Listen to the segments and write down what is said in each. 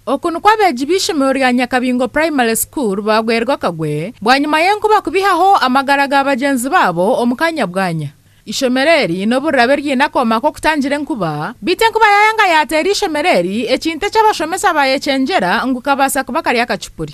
Oku nikwo abeegi b'eishomero rya Nyakabingo Primary School baagwerwa akagwe bwanyima y'enkuba kubihaho amagara ga bagyenzi baabo omu kaanya bwanya. Eishomero eri n'oburirabe eryaine akooma k'okutangira enkuba, beitu enkuba yaayanga yaateera eishomero eri, ekintu eki abashomesa baayekyengyera ngu kabaasa kuba kari akacupuri.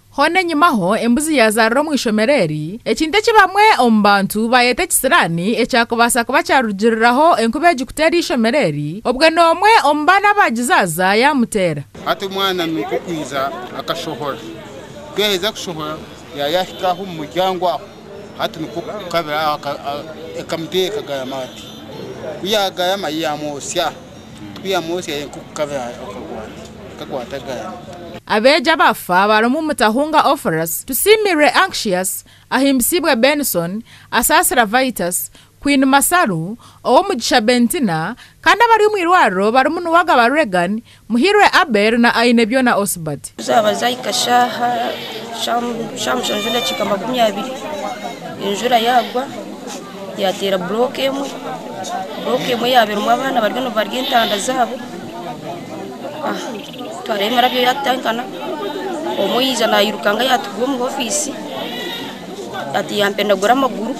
Hoona enyimaho embuzi yaazarira omu ishomero eri, ekintu eki bamwe omu bantu baayeta ekisiraani ekyakubaasa kuba kyarugiriraho enkuba egi kuteera ishomero eri, obwe n'omwe omu baana abaagizaaza yaamuteera. Hati omwana nikwo kwija akashohora. Ku yaaheza kushohora yaaba yaahika aho omu muryango aho, hati nikwo kukabira aho ekamuteera ekagayama hati. Ku yaagayama yaamwotsya. kwihamu otyaye nk'oku kaba okakwata agaana. Abeegi abafa barimu Mutahunga Ophrus, Tusiimirwe Anxious, Ahimbisibwe Benson, Asaasira Vitus, Queen Masaru, Owomugisha Bentina kandi abari omu irwariro barimu Nuwagaba Reagan, Muhirwe Abel na Ainebyona Osbert. Zaaba zaahika shaaha shaaha mushanju n'edakiika makumi abiri enjura yaagwa yaateera burooka emwe, burooka emwe yaaba erimu abaana bariyo nibarya entanda zaabo, twaareeba emirabyo yaatutankana, omwe yaija nairukanga yaaturuga omu ofiisi ati yaampenagura amaguru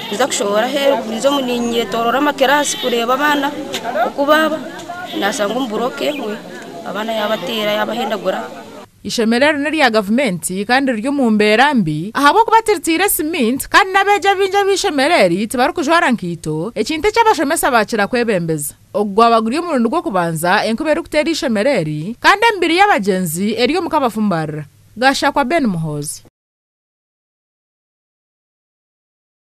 ninza kushohora aheeru ninza omu niinyetooroora amakiraasi kureeba abaana oku baaba, naashanga omu burooka emwe Abaana yaabateera, yaabahendagura. Eishomero eri n'erya gavumenti kandi riri omu mbeera mbi ahabw'okuba tiritaire siminti kandi n'abeegi abaingi ab'eishomero eri tibarikujwara nkaito, ekintu eki abashomesa baakira kwebembeza. Ogu gwaba guri omurundi gw'okubanza enkuba erikuteera eishomero eri kandi emibiri y'abagyenzi eri omu kabafu mbarira. Gashakwa Ben Muhoozi.